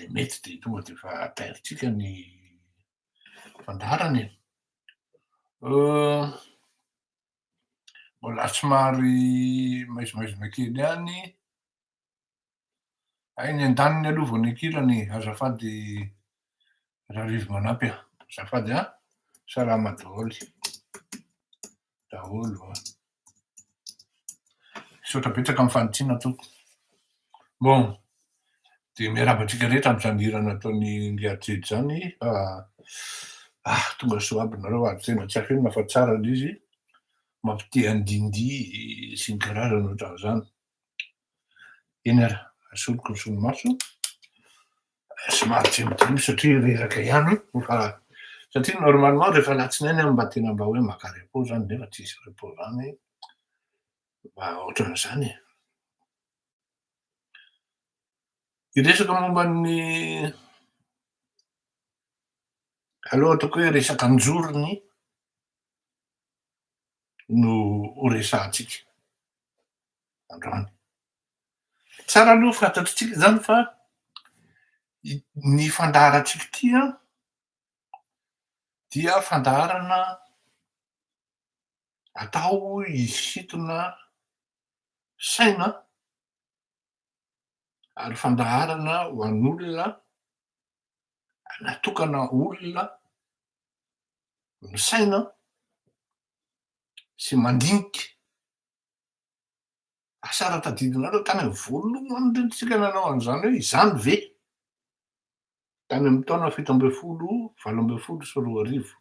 dia mety dia tonga dia efa tairintsika ny fandaharana e. Mbola somary maizimaizina kely ihany. Hay ny an-daniny aloha vao nikirany, azafady Rarivo manampy a, azafady a, salama daholo. daholo an. Misaotra betsaka amin'ny fanitsiana tompoko. Bon, dia miarahaba antsika rehetra amin'izany hira nataon'i Ngriajejo izany fa ah tonga soa aby nareo ary tena tsy afehy ny mahafa-tsara ilay izy, mampitia andihindihy sy ny karazany ohatran'izany. Eny ary, asoloky ny solomaso somary tsemotsemota satria reraka ihany fa satria normalement rehefa alatsinainy aho mba tena mba hoe maka repos izany nefa tsisy repos izany mba ohatran'izany e. Hiresaka momba ny aleo ataoko hoe resaka an-jorony. no ho resahantsika androany. Tsara aloha fantatritsika izany fa ny fandaharantsika ity an, dia fandaharana atao hisintona saina ary fandaharana ho an'olona natokana olona misaina sy mandinika asara tadidinareo tany am voalohany ndrindra tsika nanao an'izany hoe izany ve tany am taona fito ambin'ny folo valo ambin'ny folo sy roa arivo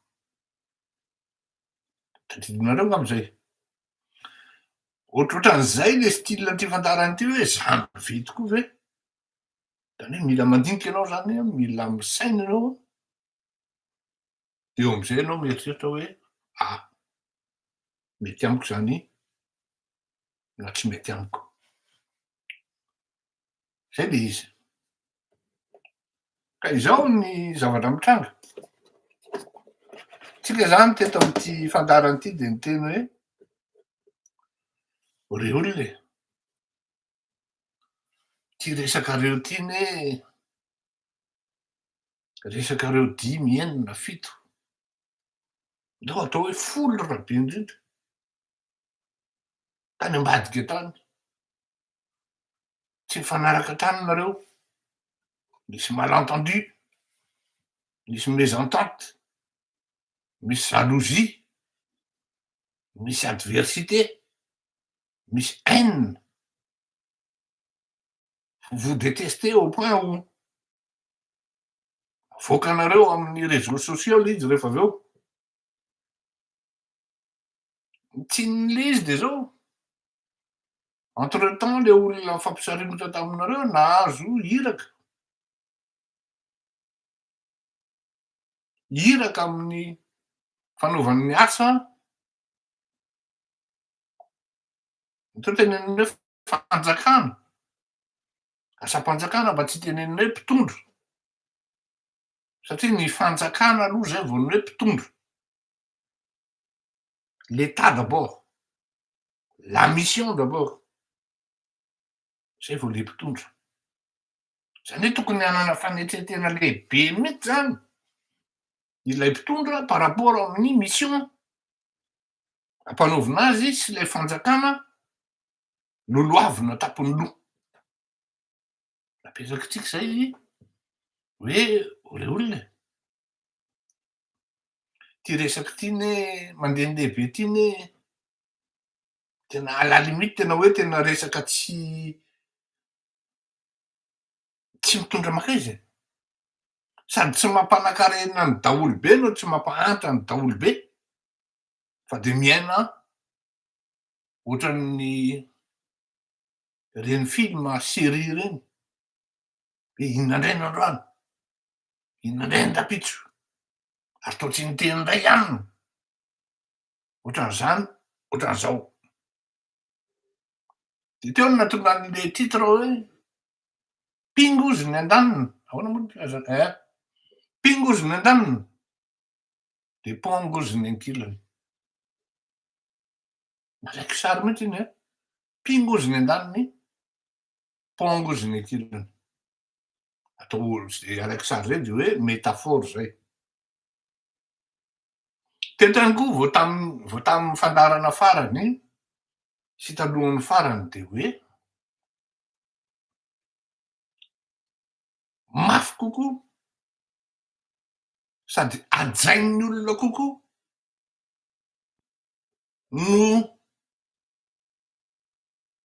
Tadidinareo angamba izay. Ohatrohatran'izay le style an'ity fandaharana ity hoe zany ve tokoa ve? Zany hoe mila mandinika ianao zany, mila misaina ianao, eo amin'izay ianao mieritreritra hoe ah, mety amiko zany na tsy mety amiko. Izay ilay izy. Ka izao ny zavatra mitranga. Tsika izany teto amin'ity fandaharana ity dia niteny hoe ry olona e, ity resakareo ity anie resakareo dimy, enina, fito, ndao atao hoe folo raha be indrindra, tany ambadika tany. tsy nifanaraka tany nareo, nisy malentendu, nisy mésentente, misy jalousie, misy adversité, misy haine, vous vous détestez au point où avoakanareo amin'ny réseaux sociaux le izy rehefa avy eo. ny tsinin'ilay izy dia izao, entre temps ilay olona nifampisaringotra taminareo nahazo iraka, iraka amin'ny fanaovany ny asa atao teny amin'ny hoe fanjakana, asam-panjakana mba tsy hitenenana hoe mpitondra satria ny fanjakana aloha izay vao ny hoe mpitondra. l'etat d'abord la mission d'abord zay vao le mpitondra zany hoe tokony hanana fanetretena lehibe mihitsy zany ilay mpitondra par rapport amin'ny mission ampanaovina azy sy ilay fanjakana lolohavina tapony loha apetraky tsika zay hoe olona e ity resaka ity ne mandehandeha be ity ne tena à la limite tena hoe tena resaka tsy tsy mitondra makaiza e sady tsy mampanakarena ny daholobe no tsy mampahantra ny daholobe fa dia miaina ohatran'ny ireny film serie ireny Dia inona indray ny androany? Inona indray ny rapitso? Ary toa tsy niteny indray aminy. Ohatran'izany, ohatran'izao. Dia teo no nahatonga an'ilay titre hoe Pingozy ny andaniny. Ahoana moa ny filazana? Eh, pingozy ny andaniny. Dia pongozy ny ankilany. Marek sary mihitsy iny, eh? Pingozy ny andaniny. pongo izy ny kilany atao araka sary zay de hoe métaphore zay tentrany koa vao tam vao tamin'ny fandarana farany sy talohan'ny farany de hoe mafy kokoa sady ajain'ny olona kokoa no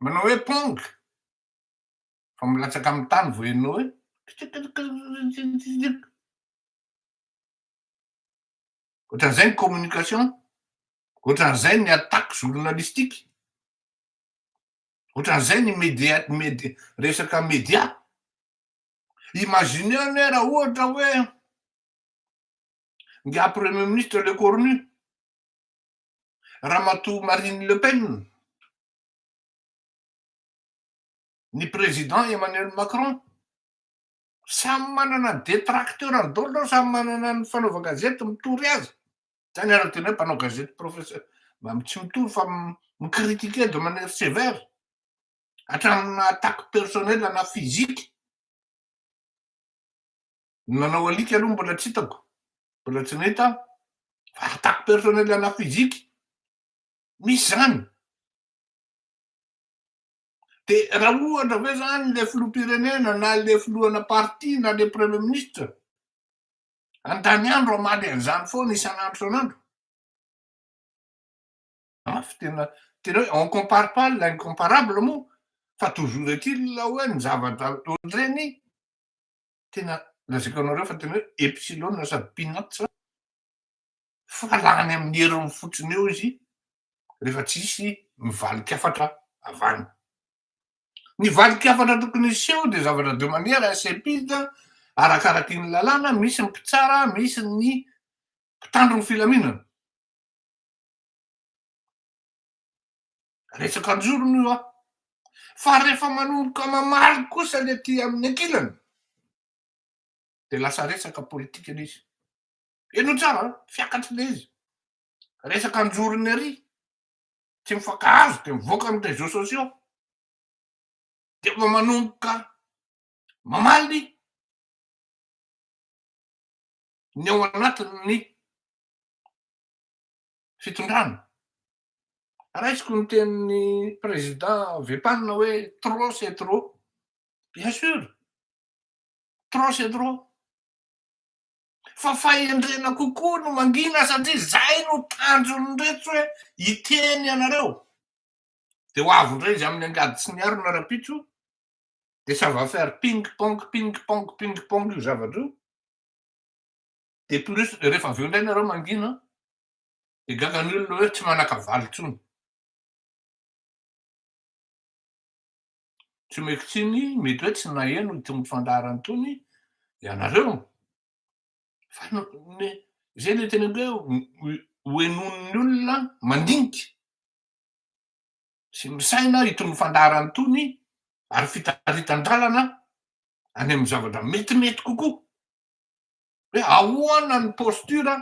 Manao hoe pong fa milatsaka amin'ny tany vao enao hoe kitikitikitikitikitik. Ohatran'izay ny communication, ohatran'izay ny attaque journalistique, ohatran'izay ny media, media, resaka media. Imagineo anie raha ohatra hoe ngiahy premier ministre Lecornu, Ramatoa Marine Le Pen, Ny Président Emmanuel Macron, samy manana ny détracteur-ny daholo, samy manana ny fanaovan-gazety mitory azy, zany araka tena hoe mpanao gazety profession-, tsy mitory fa mi-critiquer de manière sévère, hatramina attaque personnelle na physique, ny nanao alika aloha mbola tsy hitako, mbola tsy nahita aho, fa attaque personnelle na physique, Misy izany. Dia raha ohatra ve izany ilay filoham-pirenena na ilay filohana parti na ilay premier ministre an-taniandro hamaly an'izany foana isan'andro isan'andro? Mafy tena tena hoe on compare pas l'incomparable moa fa toujours est-il ilay hoe ny zavatra ohatr'ireny tena lazaiko anareo fa tena hoe epsilon sady peanuts fa lany amin'ny heriny fotsiny eo izy rehefa tsisy mivalin-kafatra avy any. Ny valin-kafatra tokony hiseho dia zavatra de manière insépilte arakaraky ny lalàna, misy ny mpitsara, misy ny mpitandro ny filaminana. Resaka an-jorony io an! Fa rehefa manomboka mamaly kosa ny aty amin'ny ankilany dia lasa resaka politika ilay izy. Heno tsara an, fiakatry le izy. Resaka anjorony ary, tsy mifankahazo de mivoaka am réseaux sociaux de efa manomboka mamaly ny ao anatin'ny fitondrana. Raisiko ny tenin'ny président Vepalina hoe trop c'est trop. Bien sûr, trop c'est trop. fa fahendrena kokoa no mangina satria izay no tanjon'ireto hoe hiteny anareo dia ho avy indray izy amin'ny angady sy ny harona rapitso dia ça va faire ping pong ping pong ping pong io zavatra io dia plus rehefa avy eo indray nareo mangina dia gaga ny olona hoe tsy manakavaly intsony tsy omeko tsiny mety hoe tsy naheno itony fandaharana itony ianareo fa izay ilay tena hoe hohenoin'ny olona mandinika sy misaina itony fandaharana itony ary fitaritan-dalana any amin'ny zavatra metimety kokoa hoe ahoana ny posture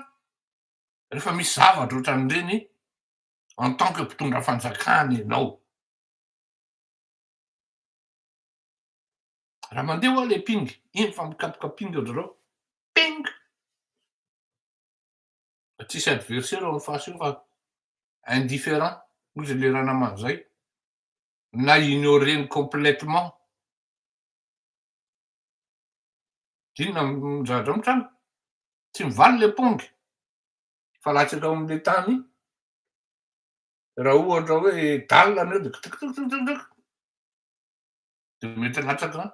rehefa misy zavatra ohatran'ireny en tant que mpitondra fanjakana ianao Raha mandeha hoa le ping, eny fa mikapoka ping ry zareo. Ping! Tsisy adversaire ao am face io fa indifferent hoy zay le ranamana zay na ignorer-ny complètement. Inona am zavatra mitranga? Tsy mivaly le pong fa latsaka ao am le tany Raha ohatra hoe dalle an'ireo dia kitikitikitikitik dia mety latsaka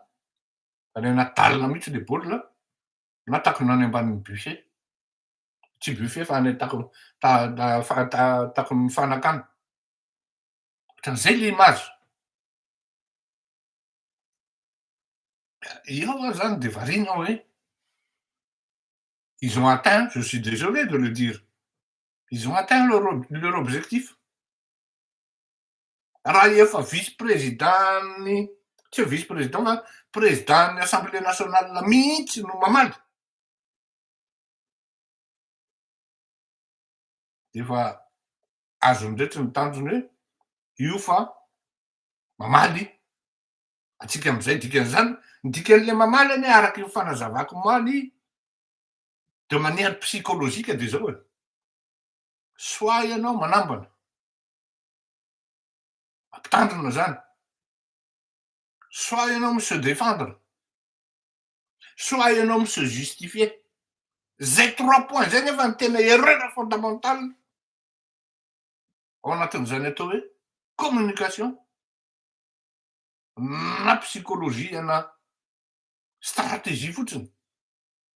any anaty dalle mihitsy le baolina na takona any ambanin'ny buffet, tsy buffet fa any takon'ny takon'ny fanakana, ohatran'izay le image. Eo ary zany dia variana hoe ils ont atteint, je suis désolé de le dire, Ils ont atteint leur leur objectif. Raha efa vice président-n'ny, tsy hoe vice président fa président-n'ny Assemblée nationale mihitsy no mamaly, dia efa azony indray ny tanjony hoe io fa mamaly antsika amin'izay dikan'izany. Ny dikan'ilay mamaly anie araka io fanazavako omaly, de manière psychologique de zao e, soit ianao manambana, mampitandrina zany, soit ianao mi se défendre, soit ianao mi se justifier, zay trois points zay nefa ny tena erreur fondamentale ao anatin'izany atao hoe communication na psychologie na stratégie fotsiny.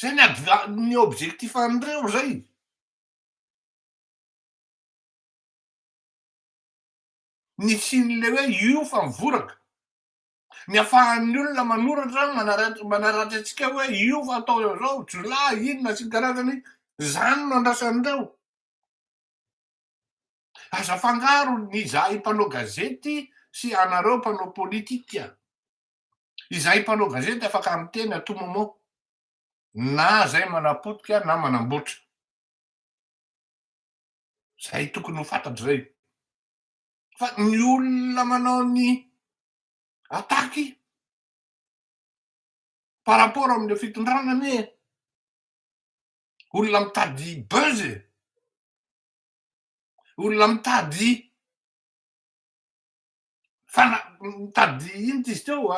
Zay ny adva- ny objectif an'ireo zay. Ny hisian'ilay hoe io fa mivoraka. Ny afahan'ny olona manoratra manara- manaratra antsika hoe io fa atao izao, jiolahy, inona sy ny karazany, zany no andrasan'ireo. Aza afangaro ny izahay mpanao gazety sy anareo mpanao politika. Izahay mpanao gazety afaka miteny à tout moment na izay manapotika na manamboatra. Izay tokony ho fantatra izay. Fa ny olona manao ny attaque par rapport amin'ilay fitondrana anie olona mitady buzz e! Olona mitady fa mitady inona izy teo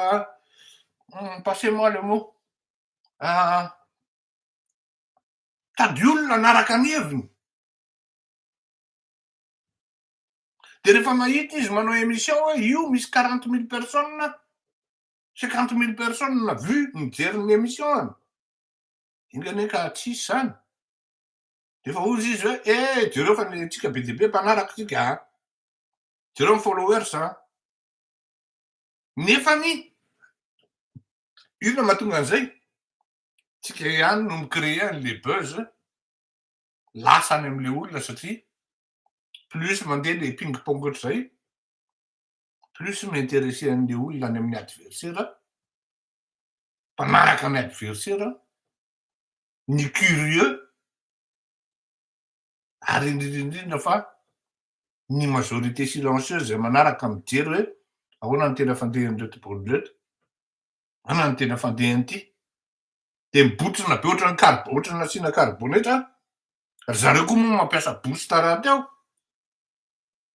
hmm, passez moi le mot ah, tady olona anaraka ny heviny de rehefa mahita izy manao émission hoe io misy quarante mille personnes cinquante mille personnes vu mijery ny émission any ingane ka tsisy zany defa ozy izy hoe e eh, jereo fa ny tsika be dia be mpanaraka tsika a ah. Jereo ny followers an! Nefany inona mahatonga an'izay? Tsika ihany no mi-creer an'ilay buzz lasa any amin'ilay olona satria plus mandeha ilay ping pong ohatr'izay plus mi-interesser an'ilay olona any amin'ny adversaire, mpanaraka ny adversaire, ny curieux ary indrindra indrindra fa ny majorité silencieuse izay manaraka mijery hoe ahoana ny tena fandehan'ireto bolo ireto, ahoana ny tena fandehan'ity, dia mibotrina be ohatran'ny kar- ohatran'ny nasiana karbonetra, ry zareo koa moa mampiasa boost raha teo,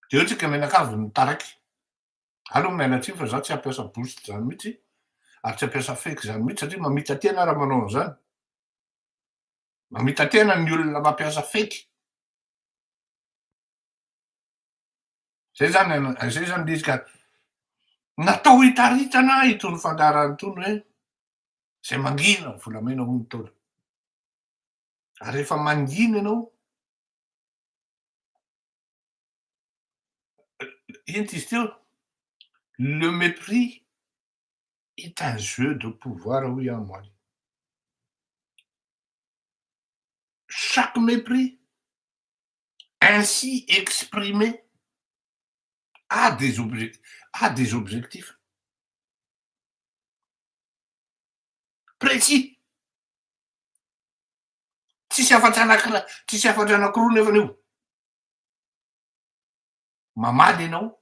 dia eo tsika menakavy ny taraiky, aleo miala tsiny fa za tsy hampiasa boost zany mihitsy, ary tsy hampiasa fake zany mihitsy satria mamita-tena raha manao an'izany. Mamita-tena ny olona mampiasa fake. Zay zany, zay zany le izy ka. Natao hitaritana itony fandaharana itony hoe zay mangina ny volamena hoy ny Ntaolo. Ary rehefa mangina ianao, inty izy teo, le mépris est un jeu de pouvoir hoy aho mole. Chaque mépris ainsi exprimé a des objectifs, a des objectifs précis. Tsisy hafatra anankiray, tsisy hafatra anankiroa nefa io. Mamaly ianao.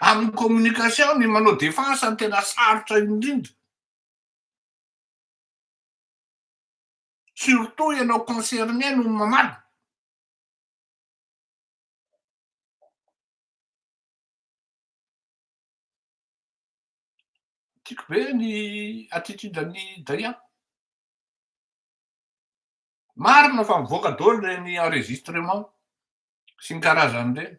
Amin'ny communication ny manao defense no tena sarotra indrindra. Surtout ianao concerné no mamaly. Tiako be ny attitude an'i Daia. Marina fa mivoaka daholo ireny enregistrement sy ny karazany ireny.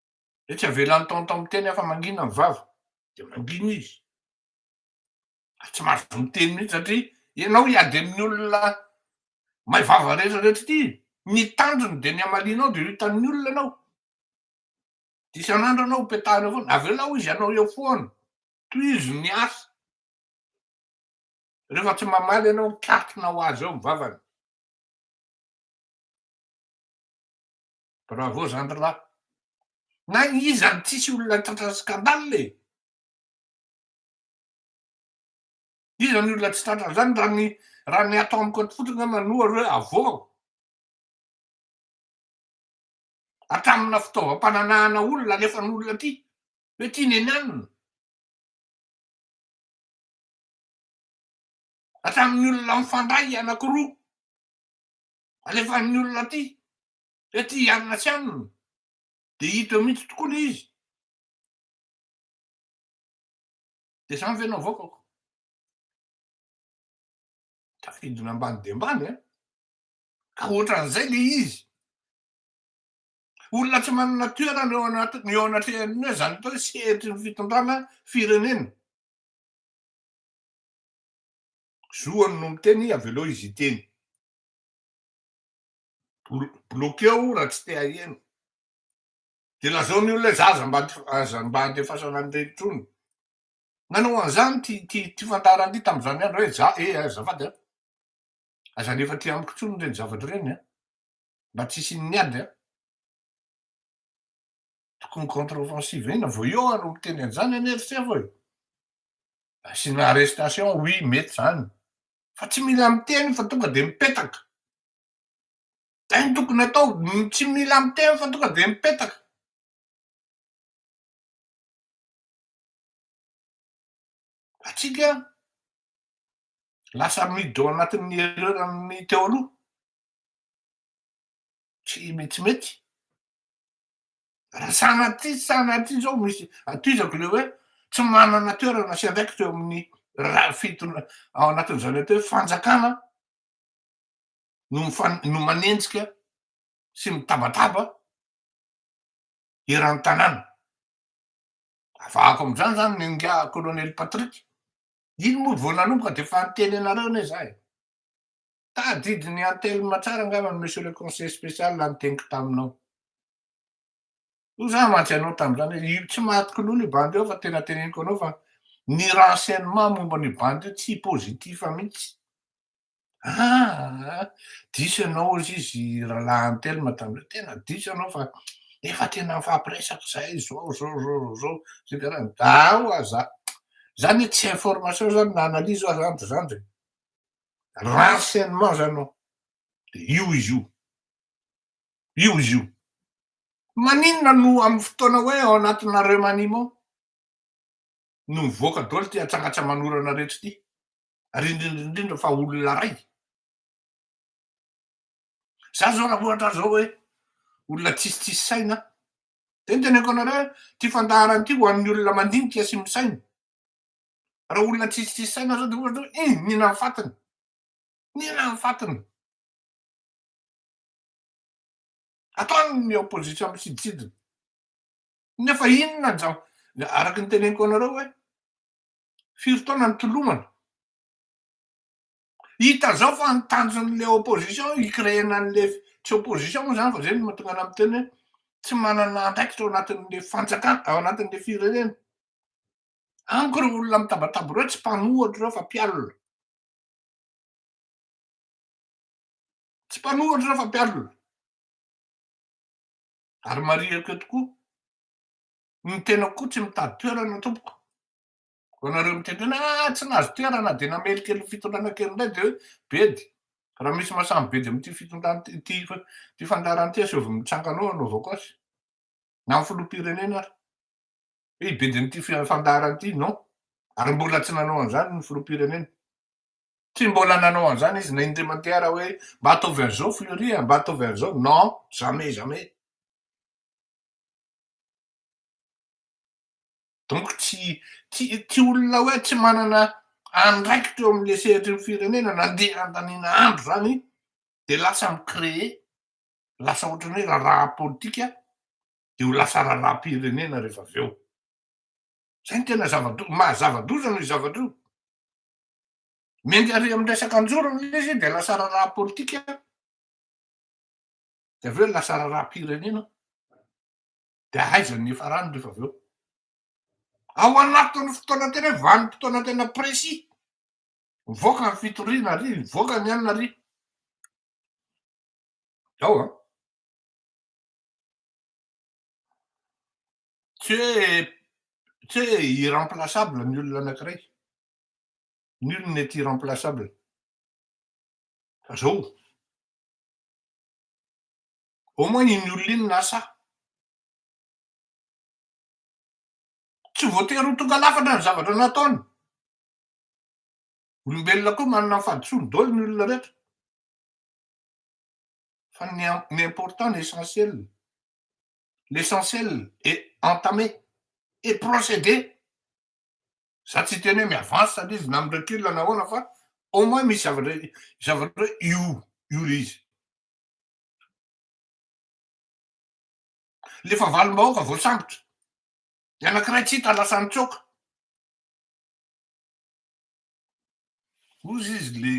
Dia tsy avela ny tonton miteny afa mangina ny vava. Dia mangina izy. Ary tsy mahazo miteny mihitsy satria ianao hiady amin'ny olona may vava rehetra rehetra ity, ny tanjony dia ny hamalianao dia ho hitan'ny olona ianao. Dia isan'andro ianao hopetahana eo foana. Avelao izy hanao eo foana. Tohizo ny asa. Rehefa tsy mamaly ianao mikatrona ho azy eo ny vavany. Bravo zandry lahy. Na iza no tsisy olona tratra scandale e. Iza ny olona tsy tratra an'izany raha ny raha ny ato amiko ato fotsiny aho manoa ry hoe avoaho. Hatramina fitaovam-pananahana olona alefan'olona aty hoe ty nenanina. Hatramin'ny olona mifandray anakiroa alefan'ny olona aty fa aty hianona tsy anona dia hita eo mihitsy tokoa ilay izy dia izany ve no avoakako tafidina ambany dia ambany a ka ohatran'izay ilay izy olona tsy manana toerana eo anaty ny eo anatrehan'ny hoe izany atao hoe sehatry ny fitondrana firenena zoany no miteny avelao izy iteny Bloqueo raha tsy te haheno. Dia lazao ny olona hoe za aza mba aza mba andefasana an'ireny intsony. Nanao an'izany ity ity ity fandaharana ity tamin'izany andro hoe za eh azafady an! Aza alefa aty amiko intsony ireny zavatra ireny an! Mba tsy hisian'ny ady an! Tokony contre offensive inona vao eo aho no miteny an'izany anie ry sefo e! Asiana arrestation oui mety izany fa tsy mila miteny fa tonga dia mipetaka. Zay no tokony atao, tsy mila miteny fa tonga dia mipetaka. Atsika lasa miditra ao anatin'ny erreur an'ny teo aloha, tsy mety mety. Raha sanatria tsy sanatria zao misy atizako le hoe tsy manana toerana sy andraikitra eo amin'ny raha fitona ao anatin'izany atao hoe fanjakana no mifan- no manenjika sy mitabataba eran'ny tanàna. Avahako amin'izany zany ny ingahy kolonely Patrick. Iny moa vao nanomboka de efa niteny anareo anie za e. Tadidy ny antelma tsara angamba monsieur le conseiller spécial raha niteniko taminao. Hoy za mantsy anao tamin'izany hoe io tsy maty kilolo io bandy io fa tena teneniko anao fa ny renseignement momba an'io bandy io tsy positif mihitsy. Ah, diso ianao hoy izy rahalahy antelma tamin'izay, tena diso ianao fa efa tena mifampiresaka zahay zao zao zao zao zay karaha zaho aza zany tsy information zany na analyse aza zany zany ratsy an'i Mao zany oh, de io izy io, io izy io. Maninona no amin'ny fotoana hoe ao anatina remaniement no mivoaka daholo ity atsanga-tsamanorana rehetra ity, ary indrindra indrindra fa olona ray. Za zao raha ohatra zao hoe olona tsisy tsisy saina, de ny teneniko anareo, ty fandaharana ty ho an'ny olona mandinika sy misaina, Raha olona tsisy tsisy saina zao de ohatra hoe ih nina ny fatiny, nina ny fatiny. Ataon'ny opposition misiditsidina. Nefa inona ny zava, araky ny teneniko anareo hoe firy taona nitolomana. Hita zao fa ny tanjon'le opposition hi-creena an'le tsy opposition moa zany fa zay no mahatonga anah miteny hoe tsy manana andraikitra ao anatin'le fanjakana, ao anatin'le firenena. Amiko ireo olona mitabataba ireo tsy mpanohatra ireo fa mpialona. Tsy mpanohatra ireo fa mpialona. Ary marihiko eto koa, ny tenako koa tsy mitady toerana tompoko. Vao nareo miteny hoe ah tsy nahazo toerana dia namely kely ny fitondrana kely indray dia hoe bedy. Raha misy maha samy bedy amin'ity fitondrana ity ity fandaharan'ity aseovy mitsangana ao hanao vaokazy. Na ny filoham-pirenena ary. Ry bidin' ity fandaharana ity non, ary mbola tsy nanao an'izany ny filoham-pirenena. Tsy mbola nanao an'izany izy na indray mandeha ara hoe mba ataovy an'izao Fleury a, mba ataovy an'izao, non, jamais, jamais. Donc tsy tsy tsy olona hoe tsy manana andraikitra eo amin'ilay sehatry ny firenena nandeha handaniana andro izany dia lasa mi-créer, lasa ohatran'ny hoe raharaha politika dia ho lasa raharaham-pirenena rehefa avy eo. Izay no tena zava-doza, maha zava-doza noho io zavatra io. Miainga ary amin'ny resaka an-jorony ilay izy dia lasa raharaha politika, dia avy eo lasa raharaham-pirenena, dia aiza ny hiafarany rehefa avy eo. Ao anatin'ny fotoana tena hoe vanim-potoana tena précis, mivoaka ny fitoriana ary mivoaka ny anona ary. Ao an. Tsy hoe tsy hoe irremplaçable ny olona anankiray. Nul n'est irremplaçable. Fa zao, au moins iny olona iny lasa. Tsy voatery ho tonga lafatra ny zavatra nataony. Olombelona koa manana ny fahadisoany daholo ny olona rehetra. fa ny ny important ny essentiel l'essentiel est entamé et procédé za tsy hiteny hoe mi-avance ary izy na mi-recule na ahoana fa au moins misy zavatra zavatra hoe io io le izy le efa valim-bahoaka voasambotra ny anankiray tsy hita lasa nitsoaka ozy izy le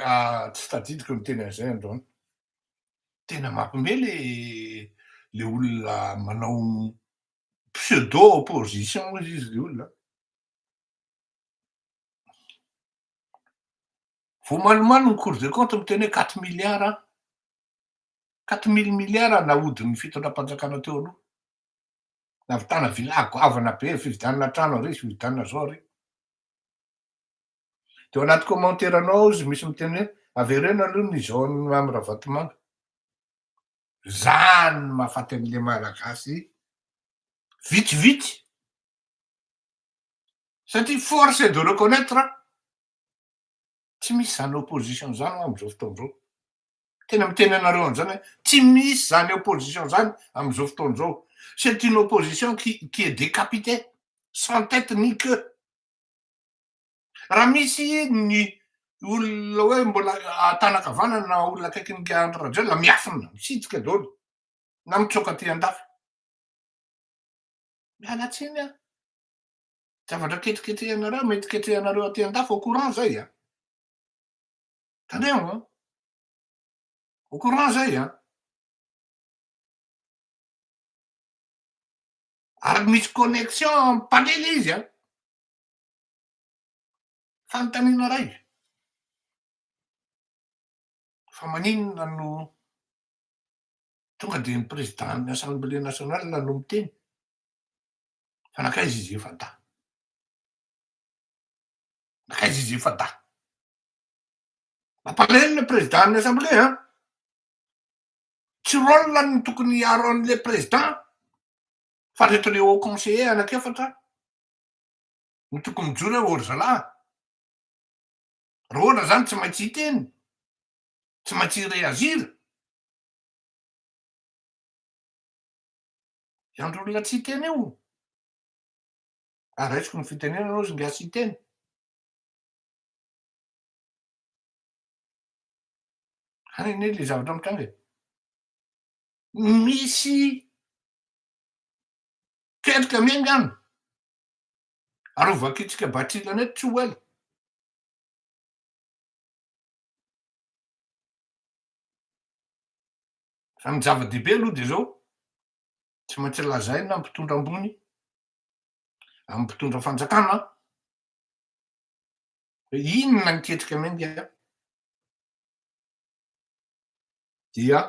Ah, tsy tadidiko ny teny an'izay androany. Tena mampme le le olona manao pseudo opposition hoy izy le olona. Vao malomalo ny cour de compte miteny hoe quatre milliards quatre mille milliards nahodin'ny fitondram-panjakana teo aloha. Navitana villa goavana be, fividianana trano ary, fividianana zao ary. de ao anaty commentaire anao ao izy misy miteny hoe avereno aloha ny zone mamy ravatomanga zany no mahafaty an'le malagasy vitsivitsy satria force de reconnaitre an tsy misy zany opposition zany ho am'zao fotoana zao tena miteny anareo an'zany hoe tsy misy zany opposition zany am'zao fotoana zao c'est une opposition qui qui est décapitée sans tête ni queue Raha misy ny olona hoe mbola an-tanankavanana na olona akaikin'i Andry Rajoelina miafina, misitrika daholo na mitsoaka aty an-dafy. Miala tsiny an! Zavatra ketriketrehanareo, mety ketrehanareo aty an-dafy, au courant zay an! Tandremo an! Au courant zay an! Ary misy connexion mpandrily izy an! Fanontaniana iray, fa maninona no tonga dia ny Président-n'ny Assemblée Nationale no miteny? Fa nankaiza izy efa-dahy? Nankaiza izy efa-dahy? Mampalahelo le Président-n'ny Assemblée an! Tsy rôle-ny no tokony hiaro an'ilay Président fa reto le Haut Conseiller anak'efatra no tokony mijoro eo ry zalahy. Rôla zany tsy maintsy hiteny, tsy maintsy hi-reagir. I Andry olona tsy hiteny io, ary raisiko ny fitenenana ozy ngy atsy hiteny. Any anie le zavatra mitranga e. Misy Ketrika ange angamba. Arovakitsika Batrila net tsy ho ela. Fa ny zava-dehibe aloha dia izao, tsy maintsy lazaina ny mpitondra ambony, amin'ny mpitondra fanjakana, hoe inona ny ketrika miainga dia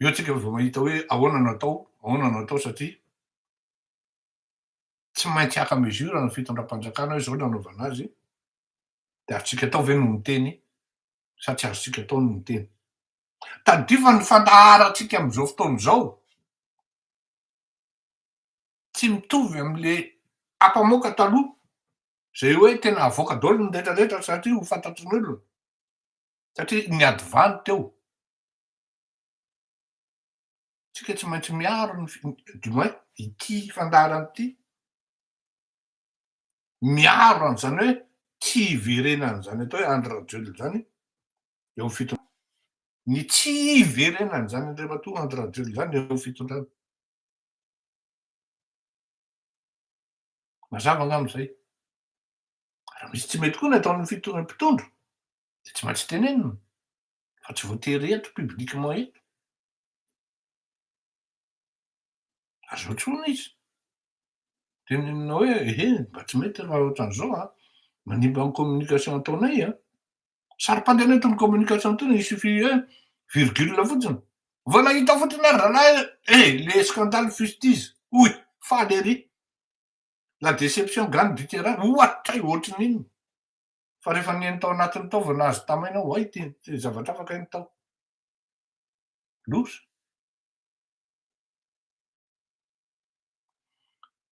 eo tsika vao mahita hoe ahoana no atao, ahoana no atao satria tsy maintsy haka mesure ny fitondram-panjakana hoe izao no anaovana azy, dia azontsika atao ve ny miteny sa tsy azontsika atao ny miteny. Tadidio fa ny fandaharantsika amin'izao fotoana izao tsy mitovy amin'ilay ampamoaka taloha izay hoe tena avoaka daholo ny rehetrarehetra satria ho fantatry ny olona. Satria niady valy teo. Tsika tsy maintsy miaro ny du moins ity fandaharana ity. Miaro an'izany hoe tsy hiverenan'izany atao hoe Andry Rajoelina izany eo amin'ny fitondrana. Ny tsy hiverenan'izany Andriamatoa Andry Rajoelina izany eo amin'ny fitondrana. Mazava angamba izay. Raha misy tsy mety koa ny ataon'ny fitondrana mpitondra. dia tsy maintsy tenenina fa tsy voatery eto publiquement eto. Ary zao tsony izy. Tenenina hoe ehe mba tsy mety raha ohatran'izao a, manimba ny communication ataonay a. Saro-pandeha eto ny communication tena il suffit hoe virgule fotsiny. Vao nahita fotsiny ary rahalahy eh le scandale fustizy oy faly ery. La déception gagne du terrain ohatray ohatrin'inona. Fa rehefa nihaino tao anatiny tao vao nahazo tamaina aho, hay ity zavatra hafa kay ny tao. Loza.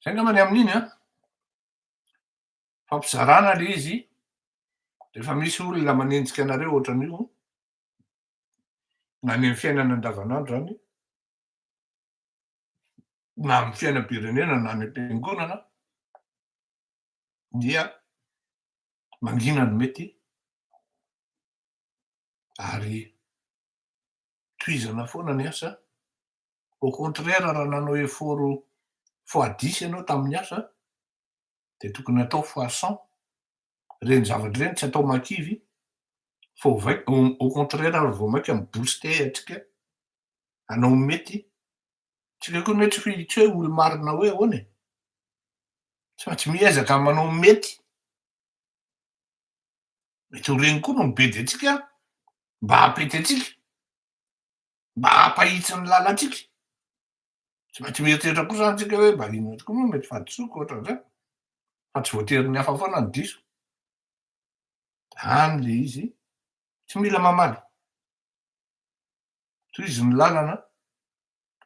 Zay angamba ny amin'iny an. Fampizarana le izy, rehefa misy olona manenjika anareo ohatran'io, na ny amin'ny fiainana andavanandro zany, na amin'ny fiainam-pirenena na any am-piangonana, dia mangina ny mety ary tohizana foana ny asa, au contraire raha nanao effort fois dix ianao tamin'ny asa dia tokony atao fois cent, ireny zavatra ireny tsy atao makivy fa au contraire ary vao mainka mi-booster antsika hanao ny mety Tsy leo koa ny hoe tsy hoe tsy hoe olo-marina hoe ahoana e. Tsy maintsy miezaka manao ny mety. Mety ho regny koa no mibedy antsika mba hampety antsika, mba hampahitsy ny lalantsika. Tsy maintsy mieritreritra koa zany tsika hoe mba inona tokoa moa mety fahadisoako ohatran'izay. Fa tsy voatery ny hafa foana no diso. Zany le izy, tsy mila mamaly. Tohizo ny lalana,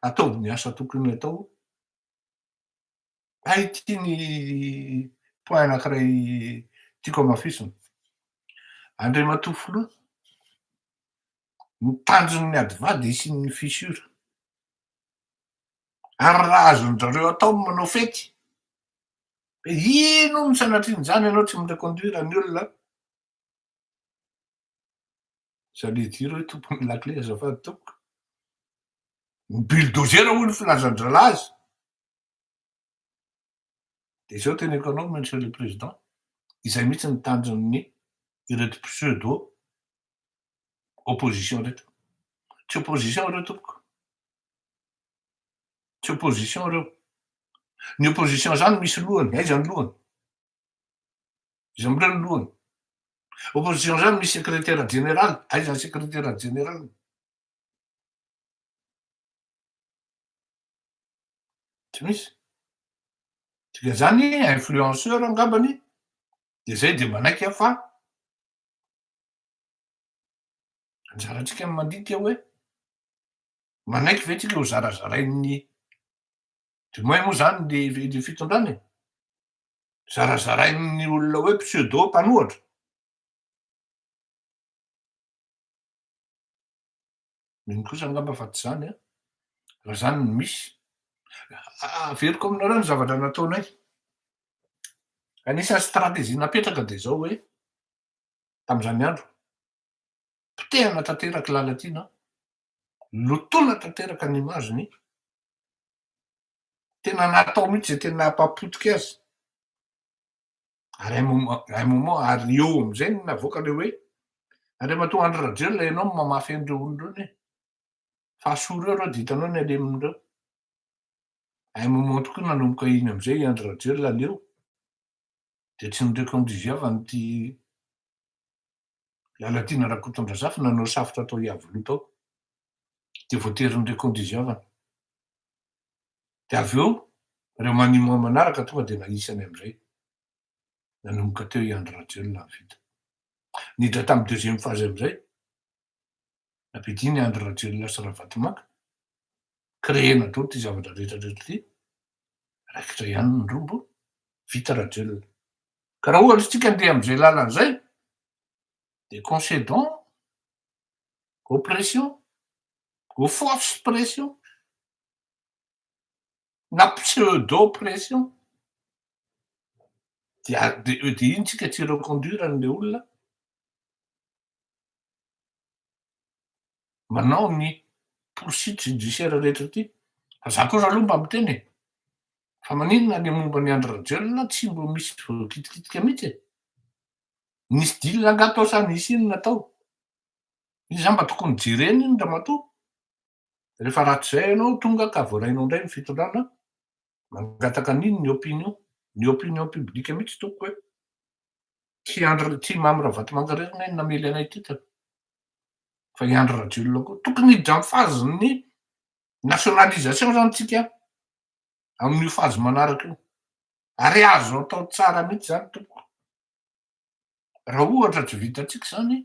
ataovy ny asa tokony atao. Hay ity ny point anankiray tiako hamafisina. Andriamatoa Filoha, ny tanjon'ny adva dia hisian'ny fissure. Ary raha azon-dry-zareo atao ny manao fety, dia inona no sanatrian'izany ianao tsy mi-reconduire ny olona Za le dire hoe tompon'ny lakile azafady tompoko. Ny bulldozer hoy ny filazan-drahalahy azy. Dia izao teneko anao Monsieur le Président, izay mihitsy ny tanjon'ny ireto pseudo opposition ireto. Tsy opposition ireo tompoko. Tsy opposition ireo. Ny opposition izany misy lohany, aiza ny lohany? Izay mbola ny lohany. Opposition zany misy secrétaire général, aiza ny secrétaire général? Tsy misy. Tsika zany influenceur angambany de zay de manaiky fa anjarantsika ny mandinika hoe manaiky ve tsika ho zarazarain'ny du moins moa zany le fitondrana e. zarazarain'ny olona hoe pseudo mpanohatra. Mino kosa angamba fa tsy izany an, raha izany no misy. Averiko aminareo ny zavatra nataonay. Anisan'ny stratégie napetraka dia izao hoe tamin'izany andro, potehana tanteraka i Lalatiana, lotoina tanteraka ny image-ny, tena natao mihitsy zay tena hampapotika azy ary un moment un moment ary eo am'zay no navoaka le hoe Andriamatoa Andry Rajoelina ianao no mamafy an'ireo olona ireo anie fa soa ireo reo de hitanao ny aleminy reo un moment tokoa nanomboka iny am'zay i Andry Rajoelina leo de tsy nireko am'riviavany ty Lalatiana Rakotondrazafy nanao safotra tao Iavoloha tao dia voatery nirekondy izy havana. Dia avy eo ireo maniman manaraka tonga dia nanisany amin'izay. Nanomboka teo i Andry Rajoelina avy vita. Niditra tamin'ny deuxième phase amin'izay. Nampiadiany Andry Rajoelina sy Ravatomanga. Créena daholo ity zavatra rehetra rehetra ity. Raikitra ihany ny rombo. Vita Rajoelina. Ka raha ohatra isika andeha amin'izay lalana izay dia concedons aux pressions, aux forces pressions, na pseudo pressions, dia iny isika tsy reconduire an'ilay olona. manao ny poursuite judiciaire rehetra ty fa za kosa aloha mba miteny e fa maninona le momba ny Andry Rajoelina tsy mbo misy voakitikitika mihitsy e nisy deal angaha tao sa nisy inona tao iny za mba tokony jerena iny ramatoa Rehefa ratsy zay ianao tonga ka voarainao indray ny fitondrana, mangataka an'ino ny opinion? Ny opinion publique mihitsy tompoko e! Tsy Andry tsy Mamy Ravatomanga irery anie no namely anay titre fa i Andry Rajoelina koa. Tokony hiditra amin'ny phase ny nationalisation zany tsika amin'io phase manaraka io. Ary azo atao tsara mihitsy zany tompoko. Raha ohatra tsy vitantsika zany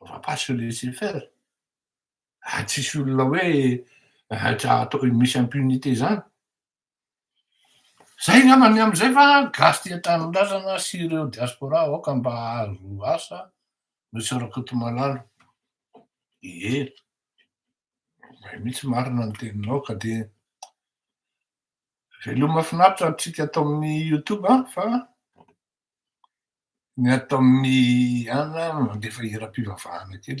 va pas se laisser faire ary tsisy olona hoe atao misy impunité zany zay ngamba ny amzay fa gasy tia tanindrazana sy ireo diaspora aoka mba ahazo asa monsieur rakotomalalo ie zay mitsy marina ny teninao ka de veloma finaritra antsika ato amin'ny youtube an fa ny ato amin'ny an mandefa hiram-pivavahana kely.